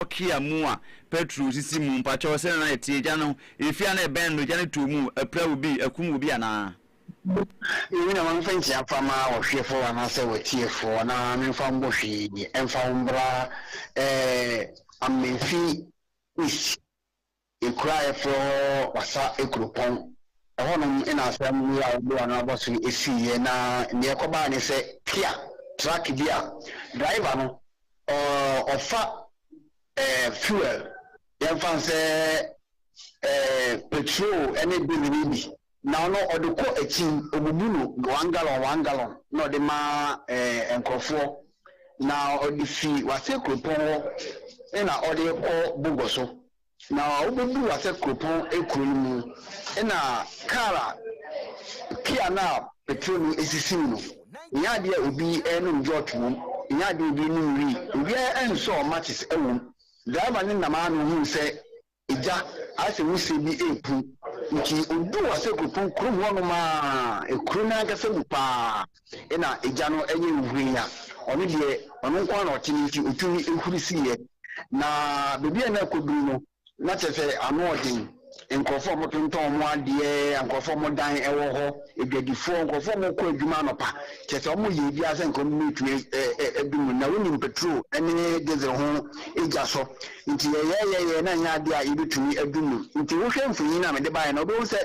Antiokia mu a Petro sisi mu mpakyɛw sɛnea na ɛteɛ gya no efi a na ɛbɛn no gya no tuo mu apira obi akum obi anaa. Yɛn nyinaa wɔmfa nkyia fa ma ɔhweɛfoɔ anaasɛ ɔtiefoɔ na memfa mbɔ hwee ɛmfa wo mbra ɛɛ Amenfi East. Ekuro a yɛfrɛ hɔ Wassa Ekuropɔn. Ɛhɔnom na asɛm wei a wɔde ano abɔ so yi siiɛ na deɛ ɛkɔbaeɛ ne sɛ Kia truck bi a driver no ɔfa fuel, yɛmfa no sɛ petrol ne diesel yi bi Na ɔno ɔde kɔ akyin, ɔbubu no one gallon one gallon na ɔde ma eh, nkurɔfoɔ. Na ɔde fi Wase kuropɔn hɔ na ɔde rekɔ Bogor so. Na wobɛduru Wase kuropɔn kuro no mu na kar a pia no a petrol no sisi mu no, ɛnyɛ adeɛ a obi renom jot wom, ɛnyɛ adeɛ a obi renom wii, obiara nsɔɔ matches wom. Driver no nam ara na ɔhuu sɛ Egya, ayɛ sɛ wusie bi repu. Ntsi oduu ase kotoo kurom hɔnom a, kuro no ankasa mu paa na egya no yɛ huei a ɔno deɛ ɔno nko ara na ɔte no nti otumi huri siiɛ. Na baabi a na ɛkɔduru no, na kyerɛ sɛ ano ɔden. Nkurɔfoɔ a wɔtontɔn wɔn adeɛ, nkurɔfoɔ a wɔn dan wɔ hɔ, adwadifoɔ, nkurɔfoɔ a wɔkɔ adwuma anɔpa, kyerɛ sɛ wɔyɛ biribiara sɛ nka wɔbɛtumi adu mu. Na wonim petrol ne diesel ho gya so. Nti yɛyɛɛ yɛyɛɛ na ɛnyɛ adeɛ a yɛbɛtumi adu mu. Nti wohwɛ mfonini no a mede baeɛ no a, wobɛhu sɛ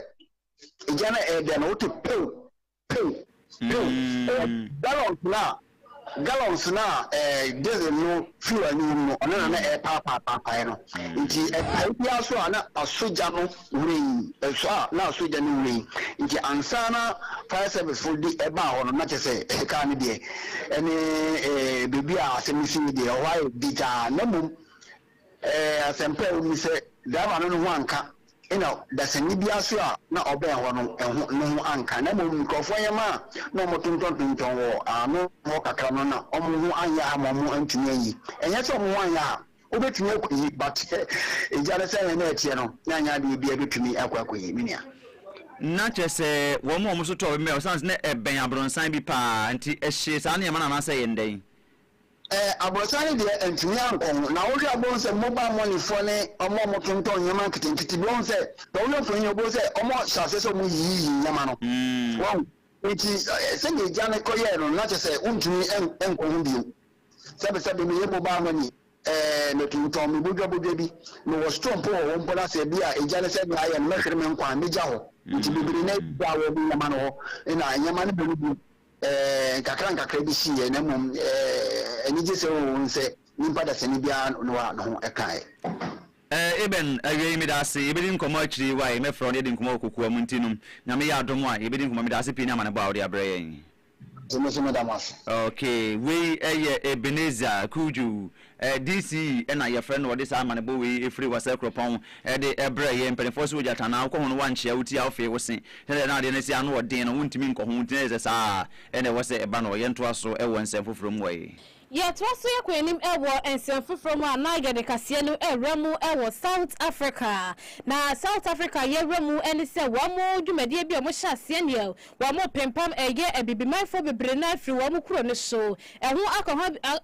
gya no ɛredɛn no, wote pew, pew, pew. Ɛyɛ gallons no a, gallons no a ɛɛ diesel no fuel no wom no, ɔno na na ɛrepaapaapaapae no. Nti ɛpae biara so a na asɔ gya no Wuram ɛso a na asogya no wura yi nti ansa na fire service fo de ɛbaa hɔ no na kyerɛ sɛ car no deɛ ɛne baabi a asɛm no sii deɛ ɛhɔ ayɛ dagyaa na mmom asɛmpa a ɛwɔ mu ne sɛ driver no ne ho anka ɛna dasani biara nso a na ɔbɛn hɔ no ɛho ne ho anka na mmom nkurɔfoɔ nneɛma a na wɔtontɔntontɔn wɔ ano hɔ kakra no na wɔn ho anyɛ ha ma wɔn antumi anyi ɛnyɛ sɛ wɔn ho anyɛ ha Wobɛtumi akɔ yi but ɛgya no sɛnea na ɛteɛ no na ɛnyɛ adeɛ obiara bɛtumi akɔ akɔ yi me nua. Na kyerɛ sɛ wɔn a wɔn nso tɔɔ bɛmɛ ɔsan sɛ na ɛbɛn abronsan bi paa nti ɛhyee saa nneɛma no anaasɛ ɛyɛ ndɛn? Ɛɛ abronsan no deɛ antumi ankɔ ho na wohwɛ a wobɛhu sɛ mobile money foɔ ne wɔn a wɔtontɔn nneɛma nketenkete bi wɔhu sɛ na wohwɛ mfoni no wobɛhu sɛ wɔn hyɛ aseɛ sɛ wɔn yiyiyi nneɛma no wɔhu nti sɛdeɛ ɛgya no kɔ yɛɛ no na kyerɛ sɛ wontumi nkɔ ho bio. Sɛbesɛbe meyɛ mobile money eh, metontɔn me bodwabodwa bi, mewɔ store mpo wɔ hɔ mpo na sɛ bi a egya ne sɛnea ayɛ no mɛhwere me nkwa a megya hɔ nti bebree na agyigya a wɔde nneɛma no hɔ na nneɛma no bere bio eh, nkakra nkakra bi siiɛ na mmom eh, anigye sɛ oo nsɛ nipa dasani biara no a ne ho kaeɛ. Eh, amen, awiei medaase, yɛbɛdi nkɔmmɔ akyiri yi wae, mɛfrɛ wo na yɛadi nkɔmmɔ wɔ kokoa mu nti nom, Nyame yɛ adom a yɛbɛdi nkɔmmɔ, medaase pii ne amanebɔ a wode abrɛ yɛn. Nti me so meda mo ase. Okay wei yɛ Ebenezer Cudjoe eh DC na yɛfrɛ no ɔde saa amanebɔ wei ɛfiri Wasa Kuropɔn de brɛɛ yɛn mpaninfoɔ sɛ ogya tanaa wokɔ ho no woankyea wo ti a wofee wo se sɛdeɛ na adeɛ no si ano ɔden no wontumi nkɔ ho nti na ɛsɛ saa na ɛwɔ sɛ ɛba no yɛntoa so wɔ nsɛm foforɔ mu wɔ yi. Yɛtoa so yɛ kɔ anim wɔ nsɛm foforɔ mu a na yɛde kaseɛ no rewura mu wɔ South Africa. Na South Africa yɛwura mu ne sɛ wɔn dwumadie bi a wɔhyɛ aseɛ neɛ wɔpempam yɛ abibimanfoɔ bebree no ara firi wɔn kuro no so. Ɛho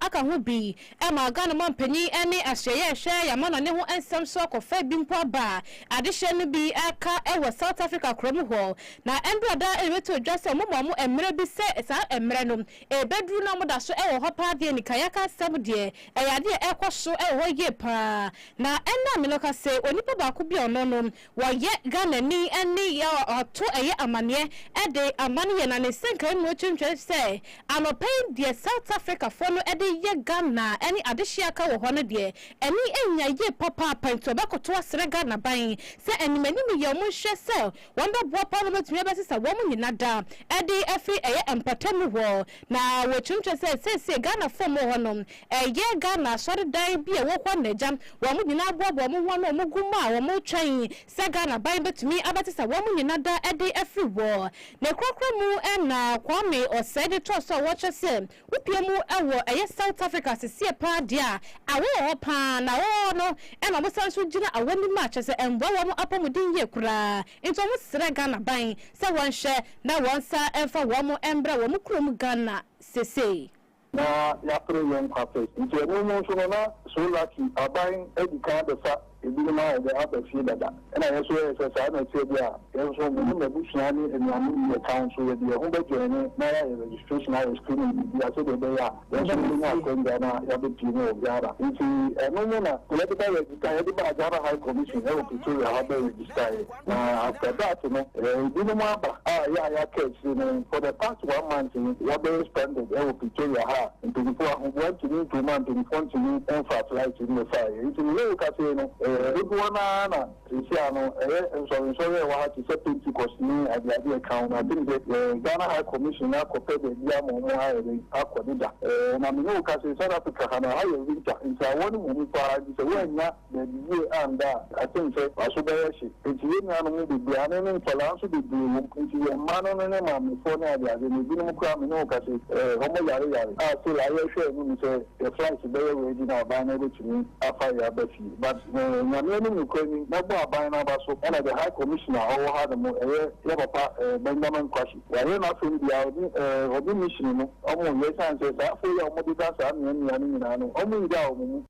aka ho bi ma Ghana mampanin ne asoɛeɛ ɛhwɛ yɛn amanɔne ho nsɛm so akɔfa bi mpo aba a adehyeɛ no bi ka wɔ South Africa korɔ mu hɔ. Na ɛnberɛ a daa ɛrebɛto dwa sɛ wɔma wɔn mmerɛ bi sɛ saa mmerɛ no Ɛrebɛduru na wɔda so wɔ hɔ paa deɛ nika yɛaka asɛm deɛ, ɛyɛ adeɛ a ɛrekɔ so wɔ hɔ yie paa. Na ɛna me no ka sɛ onipa baako bi a ɔno no ɔyɛ Ghanani ne ɔto ɛyɛ amaneɛ de ama no yɛ na ne nsɛnkaeɛ mu ɛtwentwɛn sɛ anɔpa yi deɛ South Africa foɔ no de yɛ Ghana ne adehyeɛ a aka wɔ hɔ no deɛ ani nnya yie papaapa nti ɔbɛkoto asrɛ Ghana ban sɛ animanim yɛ wɔn nhwɛ sɛ Wɔn dɔ boapa no betumi abɛsesa wɔn nyina da ɛde afiri ɛyɛ mpatamu hɔ. Na wɔkyerɛkyerɛ sɛ seesei Ghanafoɔ a wɔwɔ hɔ no ɛyɛ Ghana asɔredan bi a ɛwɔ hɔ na agya wɔn nyina aboaboa wɔn ho ano a wɔn gu mu a wɔn retwɛn sɛ Ghana ban betumi abɛsesa wɔn nyina da ɛde afiri hɔ. Ne korakora mu na Kwame Osei de too so a wɔkyerɛ sɛ Wopie mu wɔ ɛyɛ South Africa seseɛ paa deɛ a awɔ wɔ hɔ paa na awɔ wɔ hɔ no na ɔmo san nso gyina awɔ nim a kyɛsɛ ɛmboa wɔ ɔmo apɔmuden yie koraa nti ɔmo srɛ Ghana ban sɛ wɔn hwɛ na wɔn nsa nfa wɔ mo ɛmbrɛ wɔ mo kurom Ghana sesei. Na yɛapere yɛn nkwa pɛ nti ɛno mu nso no na So Lucky aban adi kan abɛfa Ebinom ayɛ dɛ aba fie dada. Nna yɛn so yɛyɛ sɛ saa na ɛteɛ deɛ a, yɛn nso me ne m'abusua ne anuanom bi yɛka wo nso yɛde yɛn ho bɛjoine na yɛayɛ registration ayɛ screening biribiara sɛdeɛ ɛbɛyɛ a yɛn nso yɛbɛnya akwangya na yɛabɛpie mu wɔ Ghana. Nti ɛno mu na yɛde bɛ register, yɛde baa Ghana High Commission wɔ Pretoria hɔ bɛ register yɛn. Na after that no ebinom aba a yɛ a yɛaka akyire no for the past one month no yɛabɛyɛ stranded wɔ Pretoria ha a mpanyinfoɔ ahoboa ntumi ntuu mu a mpanyinfoɔ ntumi mfaa flight mmɛfaa yɛn nti mene wo kasa yi no dodoɔ no ara na seesei a no ɛyɛ nsɔre nsɔre a ɛwɔ ha te sɛ Pentecost ne ade ade ɛka ho no I think sɛ Ghana High Commission no akɔpɛ baabi ama wɔn ayɛ dɛn akɔ deda na mene wo kasa yi South Africa ha no ɛha yɛ winter nti awɔ no mmɔ mu paa nti sɛ woannya Dabi yie annda a akyem sɛ waso bɛyɛ hye nti yɛn nuanom no bebree ane ne nkwadaa nso bebree wɔ mu nti yɛn mma no ne ne maamefoɔ ne adeade no ebinom koraa me ne wo ka se wɔn yare yare a still a yɛ hwɛ anim sɛ yɛ flight bɛyɛ ready na aban no bɛtumi afa yɛ aba fie but eh Nyame anim nokorɛ ni mɛbɔ aban no aba so ɛna the high commissioner a ɔwɔ ha nom ɛyɛ yɛ papa eh Benjamin Kwashe wayɛ n'asem biaa ɔne eh ɔne mission no wɔn yɛ ɛsiane sɛ saa afoɔ yi a wɔn deda saa mmea mmea no nyinaa no wɔn nyaa wɔn mu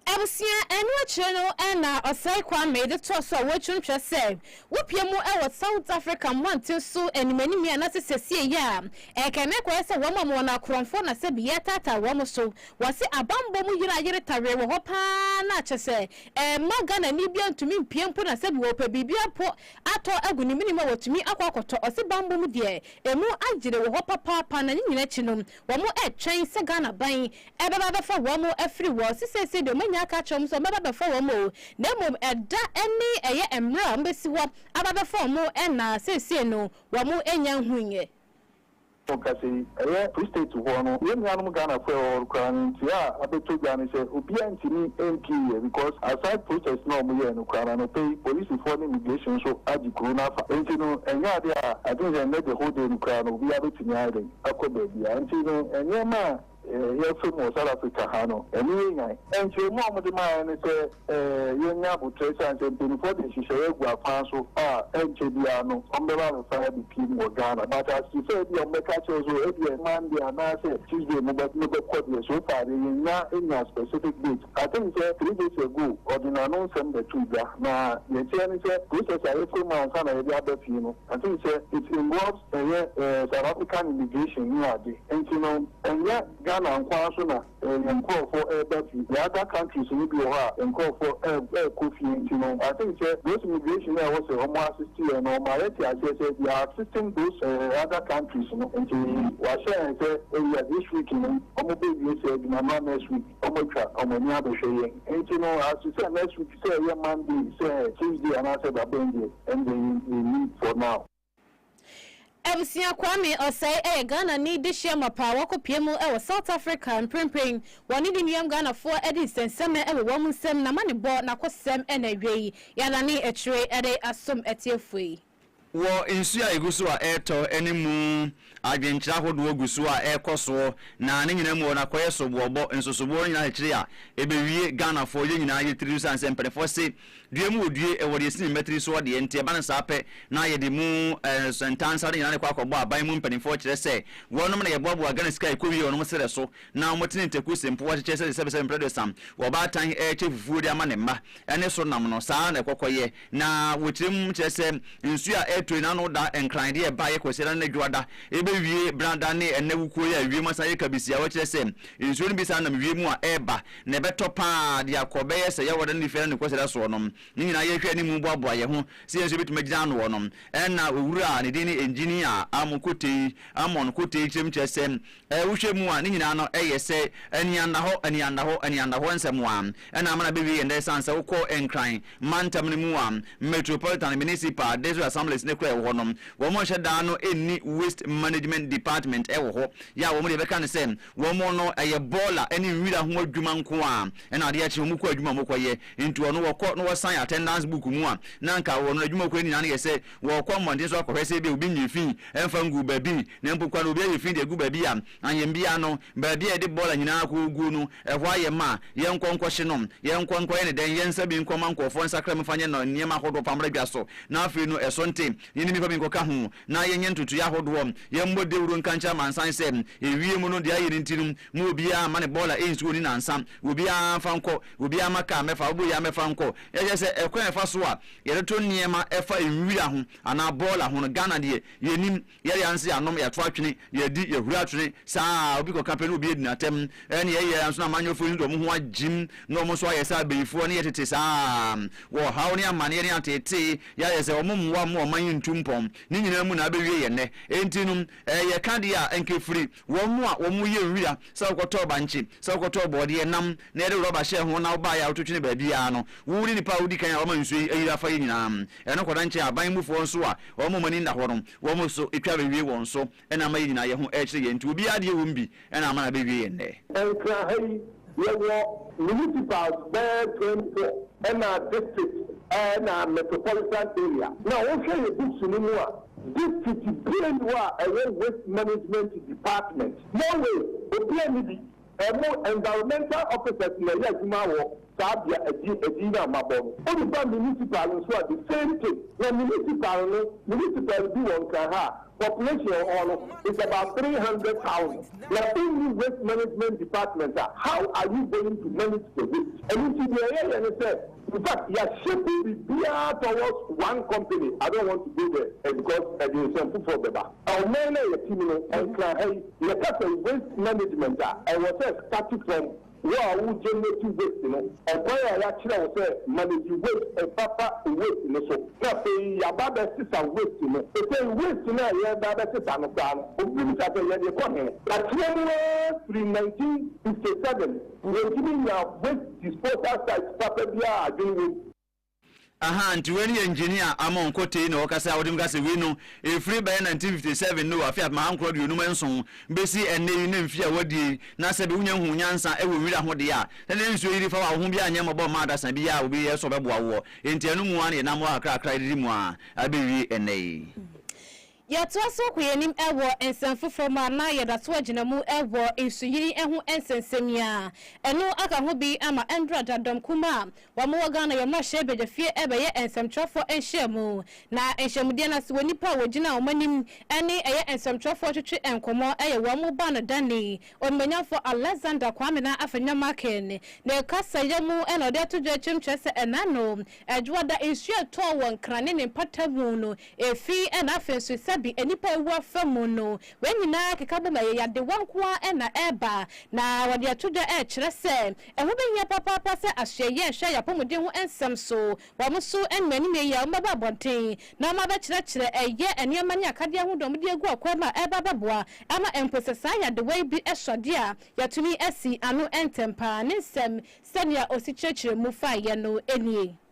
Abusua, ɛno akyire no na Osei Kwame de too so a wɔatwintwa sɛ wopue mu wɔ South Africa mmɔnten so animanim yi anaasɛ sesie yi a ɛka no ɛkɔyɛ sɛ wɔn ama wɔn akorɔmfoɔ na sɛ bi yɛretaataa wɔn so. Wɔse abanbɔ mu yere a yere tawee wɔ hɔ pa ara no a kyɛ sɛ ɛmma Ghanani biara ntumi mpue mpo na sɛ bi wɔpɛ biribiara mpo atɔ agu ne menem a wɔtumi akɔ akɔtɔ. Ɔse banbɔ mu deɛ ɛmu ayere wɔ hɔ papaapa na ne nyina akyi no Wɔretwɛn sɛ Ghana ban bɛba abɛfa wɔn afiri hɔ. Se seesei deɛ wɔanya aka akyerɛ wɔn sɛ wɔbɛba abɛfa wɔn o, na mmom ɛda ne ɛyɛ mmerɛ a wɔbɛsi hɔ aba abɛfa wɔn na seesei no wɔannya nhuiɛ. Ɔkasa yi ɛyɛ Free State hɔ no, yɛn nuanom Ghanafoɔ a ɛwɔ hɔ no koraa no nteɛ a abɛtɔ dwa ne sɛ obiara ntumi mpueɛ because aside protest no a wɔyɛɛ no koraa no anɔpa yi polisifoɔ ne immigration nso agye kuro no afa. Nti no ɛnyɛ adeɛ a I think sɛ nnɛ the whole day no koraa no obiara bɛtumi ayɛ dɛn? akɔ baabi a nti no nneɛma a yɛsom wɔ South Africa ha no, ɛno yɛ Nyan! Nkyerɛmu a wɔde maa yɛn ne sɛ yɛnyɛ aboterɛ esiane sɛ mpanimfoɔ de nhyehyɛeɛ agu akwan so a ɛnkyɛ biara no wɔbɛba abɛfa abɛpiem wɔ Ghana. But as te sɛ ebia wɔbɛka akyerɛ wo sɛ ebia Monday anaasɛ Tuesday mobɛkɔ deɛ so far deɛ yɛnnya nnya specific date. I think sɛ three days ago ɔde n'ano nsɛm bɛtoo dwa na deɛ ɛteɛ ne sɛ process a yɛfa mu ansa na yɛde aba fie no I think sɛ it involves ɛyɛ South African immigration ne ade nti no ɛnyɛ Ghana nko ara so na yɛn nkorɔfoɔ reba fie the other countries no bi wɔ hɔ a nkorɔfoɔ rekɔ fie nti no I think sɛ those immigration a ɛwɔ sɛ wɔn assist yɛn no wɔma yɛte aseɛ sɛ they are assisting those other countries no nti wɔahyɛ yɛn sɛ ɛyɛ this week no wɔn bɛ wie sɛ adwuma no a next week wɔn atwa wɔn ani abɛhwɛ yɛn nti no as to sɛ next week sɛ ɛyɛ Monday sɛ Tuesday anaasɛ da bɛn deɛ ɛndeɛ yɛnnim for now. Abusua Kwame Osei yɛ Ghanani dehye amapa a wakɔpue mu wɔ South Africa. Mprempren, wɔne ne nuam Ghanafoɔ de nsɛnsɛmɛ wɔ wɔn nsam, n'amanebɔ, n'akosɛm na awiei yɛadane akyire de asom atiefoɔ yi. Wɔ nsuo a ɛgu so a ɛretɔ ne mu. Adwenkyerɛ ahodoɔ gu so a ɛrekɔ soɔ na ne nyinaa mu hɔ no akɔyɛ soboɔbɔ. Nsosoboɔ no nyinaa kyekyere a, ɛbɛwie Ghanafoɔ yɛn nyinaa yere tiri so sane sɛ mpaninfoɔ se, Due mu wɔ due, ɛwɔ deɛ ɛsi ne mma tiri soɔ deɛ nti ɛba no saa pɛ na yɛde mu ntansa no nyinaa na ɛkɔ akɔbɔ aban mu mpaninfoɔ kyerɛ sɛ wɔnom na yɛboaboa Ghana sika a ɛkɔ wie wɔnom serɛ so na wɔtene ntaku se mpoa kyekyɛ sɛdeɛ sɛbesɛbe mprɛdosam ɔbaatan rekyɛ fufuo de ama ne mma ne so nam no saa na ɛkɔkɔyɛ. Na wɔ kyerɛ mu kyerɛ sɛ nsuo a ɛretɔ yi n'ano da nkran de ɛba yɛ kwasiada ne dwoada ɛbɛwie benada ne ɛnɛ wukuo yi a ewiem asan yɛ kabisia wɔ kyerɛ sɛ nsuo no bi san nam wiem a ɛreba na ɛbɛtɔ paa de akɔ bɛyɛ sɛ yɛwɔda ne fiada ne kwasiada soɔ no ne nyinaa yɛhwɛ anim boaboa yɛ ho sɛ yɛn nso yɛbɛtumi agyina anoɔ no ɛna owura a ne din ne engineer Amon Kotei Amon Kotei kyerɛ mu kyerɛ sɛ Ɛ, wohwɛ mu a, ne nyinaa no yɛ sɛ aniannahɔ, aniannahɔ, aniannahɔ nsɛm a ɛna ama na bewie yɛn dɛ. Esiane sɛ wokɔ Nkran mantam no mu a, Metropolitan, Municipal, District Assemblies no koraa a ɛwɔ hɔ no, wɔnhyɛ da no nni Waste Management Department wɔ hɔ. Yɛ a wɔn deɛ yɛbɛka ne sɛ, wɔn no ɛyɛ bɔɔla ne nwira ho adwuma nko ara na adeɛ kye, wɔn kɔ adwuma a wɔkɔyɛ. Nti wɔn no wɔkɔ na wɔsan attendance book mu a, na anka wɔn no adwuma a wɔkɔyɛ no nyinaa no yɛ sɛ Wɔkɔ mmɔnten so kɔhwɛ sɛ ebia obi nyɛ fi mfa ngu baabi. Na mpo koraa na obi ayɛ fi de agu baabi a, ahembea no, baabi a yɛde bɔɔla nyinaa koguo no, ɛhɔ ayɛ ma. Yɛnkɔ nkɔhye no. Yɛnkɔ nkɔyɛ no dɛn? Yɛnsa bi nkɔma nkurɔfoɔ nsakra mu mfa nyɛ no nneɛma ahodoɔ mfa mmra dwa so. Na afei no, ɛso nte, yɛne nnipa bi nkɔka ho na yɛnyɛ ntotoeɛ ahodoɔ. Yɛmmɔ dawuro nka nkyerɛ amansan sɛ, Ewiee mu no, deɛ ayɛ no nti no, mo obiara mma ne bɔɔla nsi hɔ nni nnansa. Obiara mfa nkɔ. Obiara mma kaa mmɛfa. Wobɔ yi ara mmɛfa nkɔ. Kyerɛ sɛ, ɛkwan a ɛfa so a. Yɛtoto nneɛma ɛfa nwira ho anaa bɔɔla ho no Ghana deɛ yɛnim, yɛre anse anom, yɛato atwene, yɛadi, yɛhuri atwene saa ara, obi kɔka pɛ na obi adi no atɛm, ɛne yɛyɛ ara nso na amanyɔfoɔ yi nso de wɔn ho agyem na wɔn nso ayɛ sɛ abayifoɔ ne yɛ tete saa ara, wɔ ɔhaw ne amaneɛ ne ateetee, yɛayɛ sɛ wɔn mmoa mma ɔman yi ntu mpɔn, ne nyinaa mu na abɛwie yɛ nnɛ. Enti no, ɛyɛ ka deɛ a, anka ɛfiri. Wɔn a wɔyɛ nwira sɛ wokɔtɔɔ bankye, sɛ wokɔtɔɔ borɔdeɛ, nam, na yɛde rɔba hyɛɛ ho na wobaeɛ a wotwetwene baabiara no, wo ne nnipa a wodi kan a wɔma nsuo yi ayiri afa yi nyinaa, ɛno kɔda nkyɛn a aban mufoɔ nso a wɔn a wɔn ani nna hɔ no, wɔn so twa bɛwie wɔn so na ama yɛn nyinaa yɛn ho rekyere yɛn nti obiara deɛ ɛwom bi na ama no abɛwie yɛn nnɛ. Nkra ha yi Yɛwɔ municipals bɛyɛ twenty four ɛna district ɛna metropolitan area. Na wohwɛ yɛ books no mu a, district biaa nni hɔ a ɛwɔ waste management department. Norway, obiaa nni bi. Ɛmo environmental officers na ɛyɛ adwuma wɔ saa bea ɛdin ɛdin no a mabɔ no. Wode ba municipal nso a the same thing. Na municipal no, municipal bi wɔ Nkran ha a, Population a ɛwɔ hɔ no is about three hundred thousand na wonni waste management department a how are you going to manage the waste? Ɛno nti deɛ yɛyɛ ne sɛ in fact yɛahyɛ gu biribiara towards one company I don't want to go there eh, because ɛde nsɛm foforɔ bɛba. Ɔman no a yɛte mu no, nkran ha yi yɛka sɛ waste management a ɛwɔ sɛ starte from. Wo a woregye n'akyi weight no. Ɔkwan a yɛakyerɛ wo sɛ ma n'akyi weight fa fa weight no so. Na afei yɛaba abɛsesa weight no. Sesei weight no a yɛreba abɛsesa no koraa no, obi bebisa sɛ yɛde rekɔ he? Akyerɛ mu ara firi nineteen fifty seven, yɛntumi nyaa weight disposal site papa biara a adwene wom. Ahaa nti wei no yɛ engineer Amon Kotey na ɔkasa a ɔde mu ka sɛ wei no ɛfiri bɛyɛ 1957 no afe apem ahankron aduonum nson bɛsi ɛnnɛ yi ne mfeɛ a wɔadie yi na sɛbe wonya huu nyansa wɔ nwira ho deɛ a na ne nsuo yiri fa wo a wo ho biara nyɛ mmɔbɔ mma adasa biara a obi yɛ so bɛboa woɔ enti ɛno mu ara na yɛnam hɔ kakrakra didi mu ara abɛwie ɛnnɛ yi. Yɛtoa so kɔ yɛn anim wɔ nsɛm foforɔ mu a na yɛda so gyina mu wɔ Nsuyiri ho nsɛnsɛm a ɛno aka ho bi ama ɛmmra da Dɔm Kumaa a wɔwɔ Ghana yɛn mmarahyɛ badwafie bɛyɛ nsɛmtwerɛfoɔ nhyiamu na nhyiamudeɛ no ase wɔ nnipa a wɔgyina wɔn anim ne ɛyɛ nsɛmtwerɛfoɔ twetwe nkɔmmɔ ɛyɛ wɔn mu ba no dani Onimuonyamfoɔ Alexander Kwame Nana Afenyo Markin ne kasaeɛ mu na ɔde ato dwa akyiri no kyerɛ sɛ ɛna no Dwoada nsuo a ɛtɔɔ wɔ Nkran ne ne mpatamu no Efi ɛna afei nso sɛbi nnipa awu afa mu no, wei nyinaa keka bom ɛyɛ yadewa nko ara na ɛreba. Na wɔde ɛto dwa ɛrekyerɛ sɛ ɛho bɛhia papaapa sɛ asoɛyie ɛnhwɛ yɛn apɔmuden ho ɛnsɛm so. Wɔn nso ɛnim anim yie a wɔbɛba abɔnten na wɔn abɛkyerɛkyerɛ ɛyɛ nneɛma ne akadeɛ ho deɛ wɔde agu ɔkwan mu a ɛreba abɛboa ama mpo sɛ saa yadewa yi bi ɛsɔ adeɛ a yɛatumi asi ano ntɛmpa. Ne nsɛm sɛdeɛ ɔsi kyerɛkyerɛ mu faeɛ no nie.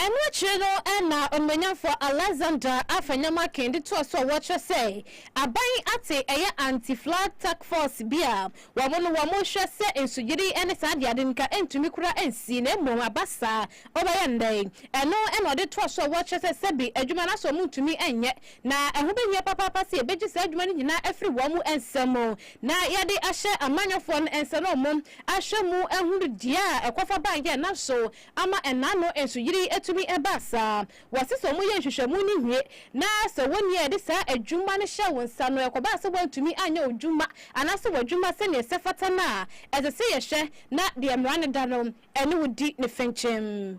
Ɛno akyiri no na Onuonyamfo Alexander afa nneɛma kee de toa so a wɔkyerɛ sɛ aban ate ɛyɛ anti-flag task force bi a wɔn no wɔn hwɛ sɛ nsugyidi ne saa de ade nka ɛntumi kura nsi na mmom aba saa ɔbɛyɛ nnɛ yi ɛno na ɔde toa so a wɔkyerɛ sɛ sɛbi adwuma no asɔ wɔn ntumi nyɛ na ɛho bɛhia papaapa sɛ yɛbɛgye saa adwuma no nyinaa afiri wɔn nsa mu Na yɛde ahyɛ amanyɔfoɔ no nsa na wɔn ahwɛ mu ahunu deɛ a ɛkɔfa baeɛ na so ama ɛna ano nsuyiri tumi baa saa. Wɔse sɛ wɔyɛ nhwehwɛmu no wie na sɛ wɔnni a yɛde saa adwuma no hyɛ wo nsa no ɛkɔbaa sɛ woantumi anyɛ wo dwuma anaasɛ w'adwuma sɛdeɛ ɛsɛ fata no a, ɛsɛ sɛ yɛhwɛ na deɛ mmara no da no ɛne wo di ne fɛnkyɛm.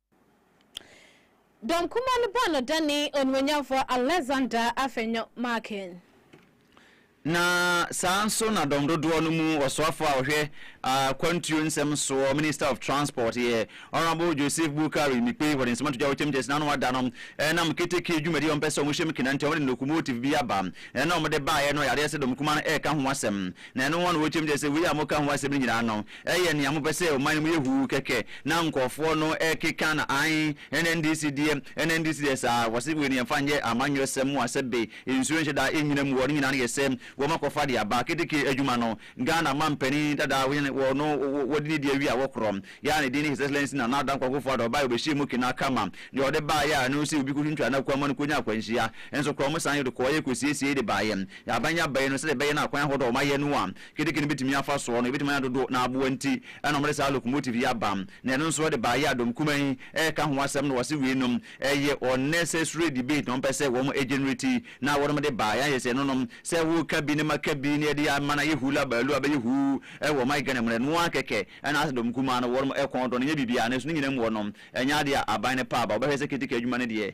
Dɔmkumaa no bɔɔ no dane Onuonyamfoɔ Alexander Afenyo Markin. Na saa ara nso na dɔm dodoɔ no mu ɔsoafoɔ a ɔhwɛ akwantuo nsɛm soɔ, Minister of Transport, yɛ Honourable Joseph Boukary Mikpei, wɔde nsɛm ato dwa wɔ Kyɛm Kyɛs n'ano ada no nam keteke dwumadi a wɔpɛ sɛ wɔhyɛ mu kenanti a wɔde locomotive bi aba na wɔde baeɛ no, yadeɛ sɛ dɔmkumaa no reka ho asɛm. Na ɛno ara na wɔ Kyɛm Kyɛs sɛ wei a wɔka ho asɛm no nyinaa no Ɛyɛ nea mopɛ sɛ ɔman no mu yɛ huu kɛkɛ na nkurɔfoɔ no keka no aane NNDC deɛ NNDC deɛ saa wɔ se wei no yɛmfa nyɛ amanyɔsɛm mu asɛ be nsuo nhyɛ da nyina mu wɔ no nyinaa no yɛ sɛ wɔ ma kɔfa de aba keteke adwuma no Ghana mampanin dada wɔ yɛn wɔ no wɔ de ne di awie a wɔ korɔ yɛ a ne din ne His Excellency Nana Addo Dankwa Akufo Addo ɔbaeɛ wɔ bɛ hyɛɛ mu kena kama deɛ ɔde baeɛ a ɛno nso obi kɔ twintwaa no akwan ma no kɔ nya akwanhyia nso korɔ wɔn san de kɔeɛ kɔ siesiee de baeɛ yɛ aban yɛ aban no sɛdeɛ ɛbɛyɛ no akwan ahodoɔ a wɔn ayɛ no a Keteke no betumi afa soɔ no ebetumi anyɛ dodo na aboa nti ɛna wɔde saa locomotive yi aba na ɛno nso ɛde baa Yadom kumaa yi ɛka ho asɛm na wɔse wei nom ɛyɛ unnecessary debate na wɔpɛ sɛ wɔn ɛgenerate na wɔnom de baa yɛayɛ sɛ ɛnonom sɛ woka bi na maka bi na yɛde ama no ayɛ hula baloo abɛyɛ huu ɛwɔ ɔman Ghana mu no ɛno ara kɛkɛ ɛna asɛ dɔm kumaa no wɔnom ɛkɔn dɔ no nyɛ biribiara nanso ne nyinaa mu wɔnom ɛnyɛ adeɛ a aban no pɛ aba wɔbɛhwɛ sɛ keteke adwuma no deɛ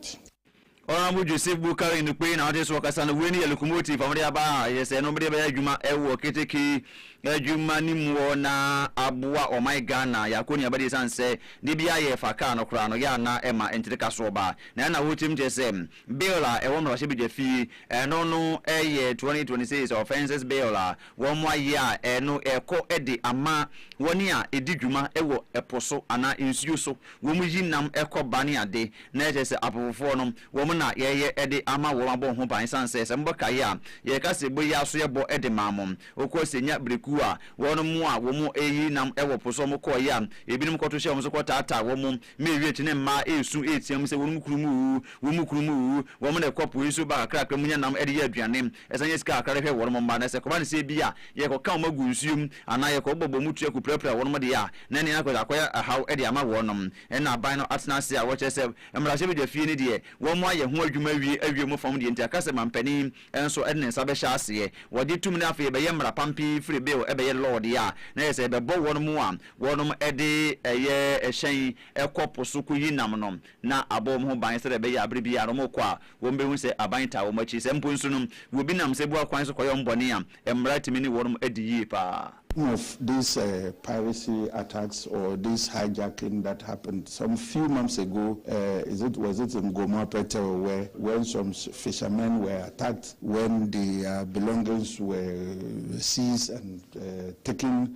Honourable Joseph Boukary Nokpei na ɔte so ɔkasa no, wei ne yɛ locomotive a wɔde aba a yɛ sɛ no wɔde bɛyɛ adwuma wɔ keteke adwuma no mu hɔ na aboa ɔman Ghana yɛ akɔ nuaba de ɛsiane sɛ de bi a yɛ fa kaa no koraa no yɛ ana ɛma ntirika soɔ ba na ɛna wɔtim kyɛ sɛ bill a ɛwɔ mmarahyɛ badwa fie ɛno no yɛ 2026 offences bill a Wɔayɛ a ɛno rekɔ de ama wɔn a ɛdi dwuma wɔ po so anaa nsuo so, wɔn yi nam kɔ ba ne ade, na ɛkyerɛ sɛ apofofoɔ no, wɔn na yɛyɛ de ama wɔn abɔ ho ban, ɛsiane sɛ, sɛ mobɔ kaeɛ a, yɛka sɛ bɔ yi ara so yɛbɔ de maa mo. Wokɔ Senya berɛ kuo a, wɔn a wɔn reyi nam wɔ po so wɔn kɔeɛ a, ɛbinom kɔto hyɛ wɔn so kɔtaataa wɔn, ma ɛwie akyiri no mmaa resu reteam sɛ wɔn kununom wuu, wɔn kununom wuu, wɔn na ɛkɔ po yi so ba kakrakra mu nya nam de yɛ aduane, Ɛsan yɛ sika kakra de hwɛ wɔn mma, na sɛ ɛkɔba no sɛ ebia yɛkɔka wɔn gu nsuo mu anaa yɛkɔbɔ bɔ mu tua kɔpirapira wɔn deɛ a, na ɛnneɛ na akɔyɛ haw de ama wɔn. Ɛnna aban no atena ase a wɔkyerɛ sɛ mmarahyɛbadwafie no deɛ, wɔayɛ ho adwuma awie awie mu fam deɛ nti aka sɛ manpanin nso de ne nsa bɛhyɛ aseɛ. Wɔgye tom na afei ɛbɛyɛ mmara pa pii firi bill bɛyɛ law deɛ a, na ɛyɛ sɛ ɛbɛbɔ wɔn a wɔde ɛyɛ hyɛn kɔ po so kɔyi nam no na abɔ wɔn ho ban sɛdeɛ ɛbɛyɛ a berɛ biara no wɔkɔ a, wɔbɛhu sɛ aban taa wɔn akyi. Sɛ mpo nso no, wɔbi nam sebua kwan so kɔyɛ wɔn bɔne a, mmara tumi ne wɔn di yie pa ara. Some of this uh, piracy attacks or this hijacking that happened some few months ago, uh, is it, was it in Gomoa Pɛtɛw where when some fishermen were attacked when their belongings were seized and uh, taken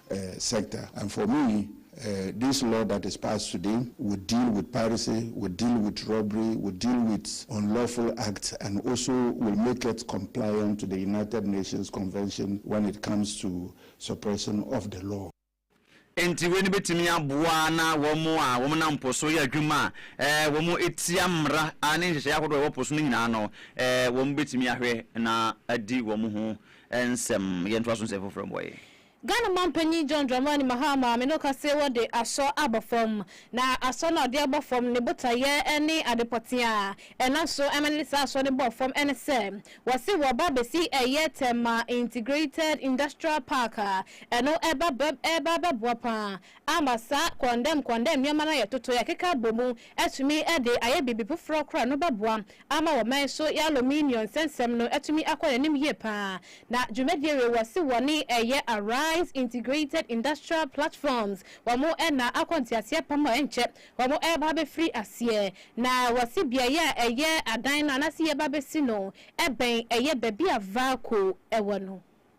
eh, sector and for me eh, this law that is passed today would deal with piracy, would deal with robbery, would deal with unlawful acts and also will make it compliant to the United Nations Convention when it comes to suppression of the law. Enti wei no bɛtumi aboa na wɔn a wɔnam po so yɛ adwuma a eh, wɔtia mmara a ne nhyehyɛeɛ ahodoɔ a ɛwɔ po so no nyinaa no, eh, wɔbɛtumi ahwɛ na adi wɔn ho nsɛm. Yɛntoa so nsɛm foforɔ mmɔeɛ. Ghana Manpanyin John Dramani Mahama maame no ka se wɔde asɔ aba fam, na asɔ no a ɔde aba fam ne botaeɛ ne ade pɔtee a ɛnam so ma ne de saa asɔ no bɔɔ fam ne sɛ wɔse wɔreba abɛsi ɛyɛ Tema Integrated Industrial Park a ɛno ɛreba abɛboa pa ara ama saa kɔndɛm kɔndɛm nneɛma no a yɛtotoeɛ akeka abɔ mu atumi de ayɛ biribi foforɔ koraa a ɛno bɛboa ama wɔman so y'aluminium nsɛnsɛm no atumi akɔ n'anim yie paa, na dwumadie wei wɔse wɔne ɛyɛ Arise Integrated Industrial Platforms wɔn na akɔ nteaseɛ pam a ɛnkyɛ wɔn ɛreba abɛfiri aseɛ, na wɔse beaeɛ a ɛyɛ adan no anaase yɛreba abɛsi no ɛbɛn ɛyɛ baabi a Valco ɛwɔ no.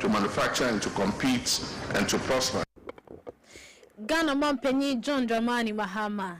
to manufacture and to compete and to prosper. Ghana Manpanyin John Dramani Mahama.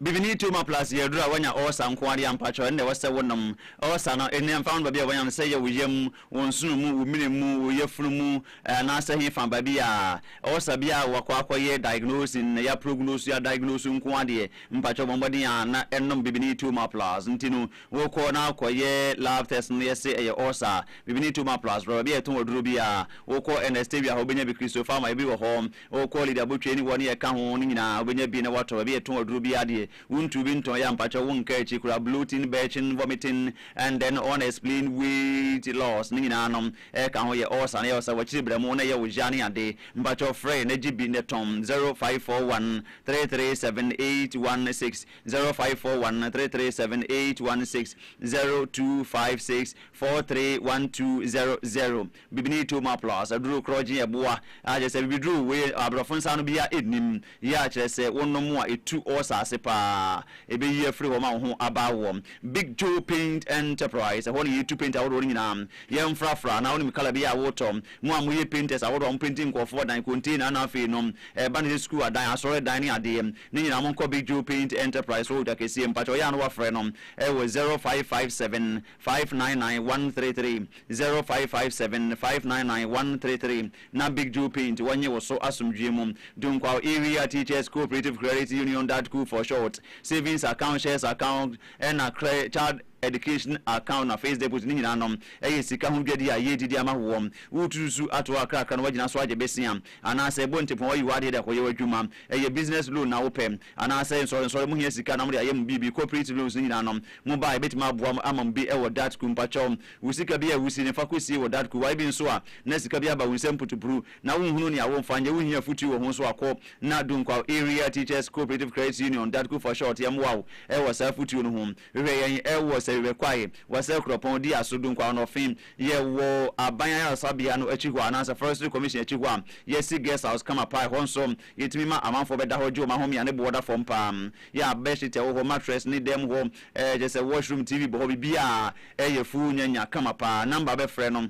Bibini too ma plus yɛ aduru a wanya ulcer nko ara deɛ a mpakyɛw ɛnna ɛwɔ sɛ wonom. Ulcer no nneɛ mfa ho no baabi a wanya no sɛ ɛyɛ wo yam, wo nsono mu, wo mene mu, wo yafunu mu eh, anaasɛ hefa baabi a ulcer biara a wakɔ akɔyɛ diagnose nnɛ yɛaprognosu yɛadiagnose nko ara deɛ mpakyɛw bɔ mmɔden a na ɛnom bibini too ma plus nti no Wokɔ na kɔyɛ lab test no yɛ se ɛyɛ ulcer, biribi ne tumor plus rɔba bi a yɛtɔn aduro bi a, wokɔ Ernest Tewia hɔ wobɛnya bi Christo Pharma yɛ bi wɔ hɔ, wokɔ Lydia Botwe ne wɔ ne yɛka ho no nyinaa wobɛnya bi na woatɔ, baabi a yɛtɔn aduro biara deɛ wontu bi ntɔn yɛ a mpakyɛw wonka akyi koraa bloating, belching, vomiting and then unexplained weight loss ne nyinaa no ɛka ho, yɛ ulcer na ɛyɛ wo sɛ wakyiri bra mu na ɛyɛ wo ya ne ade mpakyɛw frɛ yɛn na gye bi nnɛ tɔn zero five four one three three seven eight one six. zero five four one three three seven eight one six zero two five six four three one two zero zero bibini toma plus aduro korɔgye ɛboa a kyerɛ sɛ bibiduro wei aborɔfo nsa ano bia ɛnnim yɛ a kyerɛ sɛ wonom a ɛtu ɔɔsa ase paa ɛbɛyi afiri hɔ ma wo ho aba wɔ Big Joe Paint Enterprise ɛhɔ na yɛtu paint ahodoɔ no nyinaa yɛmfrafra na wonim kala bi a wotɔ Mo a moyɛ painters ahorow a ɔmo painti nkorɔfo adan, container na afei no ɛba no sɛ sukuu adan, asɔre dan ne adeɛ ne nyinaa mo nkɔ Big Joe Paint Enterprise wɔ Odwa Kɛseɛ mpakyɛw yɛ a na wafrɛ no ɛwɔ zero five five seven five nine nine one three three zero five five seven five nine nine one three three na Big Joe Paint wɔ nye wo so asomdwie mu Dunkwao Area Teachers Cooperative Credit Union Dadku for short savings account shares account ɛna cre child education account na face deposit ne nyinaa no yɛ sika ho dwadi a yɛredi de ama woɔ. Woretututu atoɔ kakrakra na woagyina so agye besia anaasɛ bɔ ntɛpɔn ayi w'adeɛ de akɔyɛ w'adwuma. Ɛyɛ business loan na wopɛ anaasɛ nsɔrensɔre mo hia sika na mode ayɛ mo biribi, cooperative loans ne nyinaa no mo ba a yɛbɛtumi aboa mo ama mo bi wɔ Datku. Mpakyɛw wo sika biara a wusie no fa kɔsie wɔ Datku. YB nso a na sika bi aba wo nsam putupuru na wonhunu nea womfa nyɛ, wohia afotuo wɔ ho nso a kɔ na Dunkwaw Area Teachers Cooperative Credit Union, Datku for short, yɛmmoa wo wɔ saa afotuo no ho. Hwɛ yɛn ɛ wɔ sɛ hwɛ kwae wɔ sɛ kuropɔn di aso du nkwa ɔnɔ fim yɛ wɔ aban ayaresa bea no akyi hɔ a anaasɛ forestry commission akyi hɔ a yɛ si guest house kama paa ɛhɔ nso yɛ tumi ma amanfoɔ bɛ da hɔ gye wɔn ahomea ne boɔ da fam paa yɛ a bed sheet ɛwɔ hɔ mattress ne dɛm hɔ ɛ kyɛ sɛ wash room TV bɔ hɔ biribiaa ɛ yɛ full nya nya kama paa number bɛ frɛ no.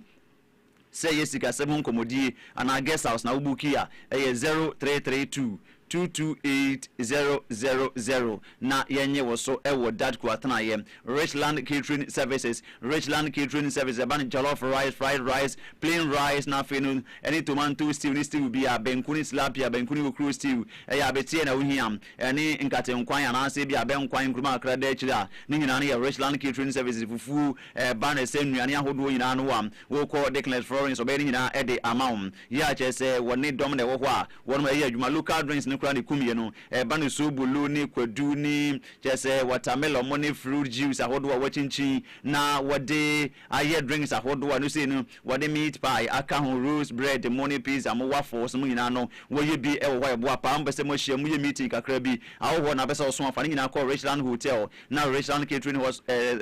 Sɛ ɛyɛ sikasɛm ho nkɔmmɔdi anaa guest house na wobuukii a, ɛyɛ zero three three two, two two eight zero zero zero na yɛnnye wo so wɔ Dutch kuatenaeɛ. Richland Catering Services, Richland Catering Services, ɛba no jollof rice, fried rice, plain rice na afei no ɛne tomanto stew ne stew biara, banku ne tilapia, banku ne okuruo stew, ɛyɛ abeteɛ na wohia, ɛne nkate nkwan anaasɛ ebia abɛ nkwan nkuruma kakra da akyire a, ne nyinaa no yɛ Richland Catering Services, fufuo, Ɛba no sɛ nnuane ahodoɔ nyinaa no a, wokɔ Dickness Florence ɔbɛyɛ ne nyinaa de ama wo. Yɛ a kyerɛ sɛ wɔ ne dɔm na ɛwɔ hɔ a wɔnom ɛyɛ adwuma. Local drinks no koraa ne kumie no. Ɛba no soobolo ne kwadu ne kyerɛ sɛ watermelon mo ne fruit juice ahodoɔ a wɔakyinkyin na wɔde ayɛ drinks ahodoɔ a ɛno sei no wɔde meat pie aka ho, roast bread mo ne pizza mo, waffles mo nyinaa no wɔyɛ bi wɔ hɔ a ɛboa paa. Mo pɛ sɛ mo ahyia mu yɛ meeting kakra bi a wɔ hɔ na wopɛ sɛ ɔso a fa ne nyinaa kɔ Richland Hotel. na Richland Catering Hall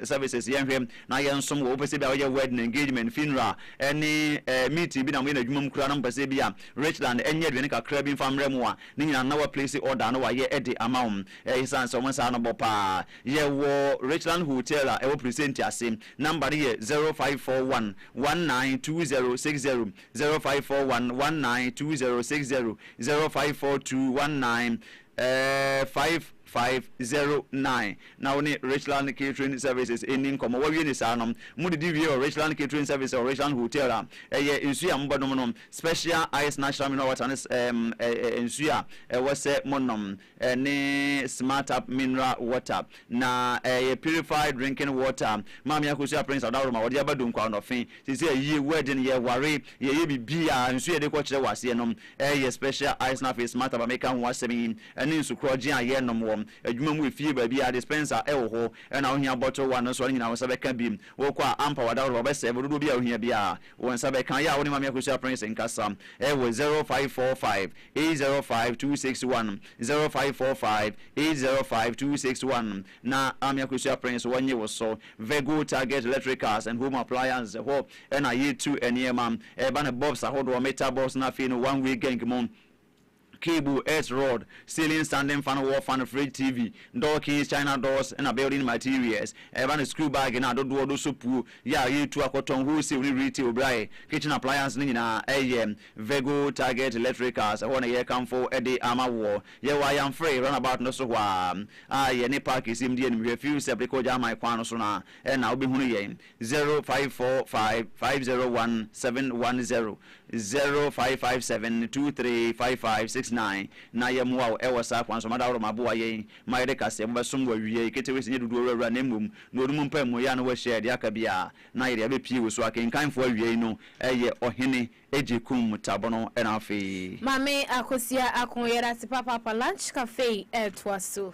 services yɛnhwɛ na yɛnsom wɔ wopɛsɛ bi a woyɛ wedding engagement funeral ɛne meeting bi na moyɛ n'adwuma mu koraa na mopɛsɛ bi a Richland ɛnyɛ aduane kakra bi mfa mmerɛ mu a ne nyinaa na wa place order na wayɛ ɛde ama wo ɛyɛ sane sɛ wɔn saa no bɔ paa yɛwɔ Richland Hotel a ɛwɔ presenti ase number no yɛ 0541 192060 0541 192060 0542 19 five five zero nine na wo ne Richland Catering Services nni nkɔmmɔ. Woawie no saa no, modidi wie wɔ Richland Catering Services wɔ Richland Hotel a ɛyɛ nsu a mobɛnom no Special Ice Natural Mineral Water ne nsu a ɛwɔ sɛ monom ne Smart Tap Mineral Water. Na ɛyɛ purified drinking water maame akosua prince adaworoma wɔde aba donkwa ɔnɔfe sese ayie wedding yɛ ware yɛ yɛ bibia nsu yɛde kɔ kyerɛ waseɛ nom ɛyɛ special ice na afei smart aba meka ho asɛm yi ɛne nsu korɔgye a yɛ nom wɔ adwuma mu efie baabia dispenser ɛwɔ hɔ ɛna ohia bottle one no so ne nyina wo nsa bɛka bi wokɔ a ampa wadaworoma ɔbɛ serve dodoɔ bi a ohia bia wo nsa bɛka yɛ a wo ne maame akosua prince nkasa ɛwɔ zero five four five eight zero five two six one zero five four five eight zero five two six one na Ame Akosua Prince wɔnye wo so Virgo Target Electricals and Home Appliances hɔ ɛna yɛtu nneɛma ɛba no bulbs ahodoɔ metal bulbs na afei no one way gang mu cable earth rod ceiling standing fan wall fan fridge tv door keys china doors ɛna building materials ɛba no school bag na adodoɔ do sopuo yɛ a yɛtu akɔtɔn wholesale ne retail berɛ ayɛ kitchen appliances no nyinaa ɛyɛ Vego Target Electricals, ɛhɔ na yɛrekamfo de ama woɔ. Yɛwɔ Ayamfre roundabout no so hɔ ara a yɛne Park Sim di anim hwɛ Fuseb de kɔ Gyaaman kwan no so no a na wobɛhunu yɛn. Zero five four five five zero one seven one zero, zero five five seven two three five five six nine na yɛmmoa wo wɔ saa kwan so. Mada Aworomaa boa yɛn ma yɛde kaseɛbɔ bɛsom wo awiei. Ketewes nyɛ dodoɔ wura wura na mmom na ɔno mu mpaemuo yɛ a na wahyia yɛn deɛ aka biara Na yɛde abɛpie wo so akenkanfoɔ awiei no yɛ Ɔhene Agyekum Tabono na afei. Maame Akosua Akon yɛda ase papaapa lunch cafe ɛɛtoa so.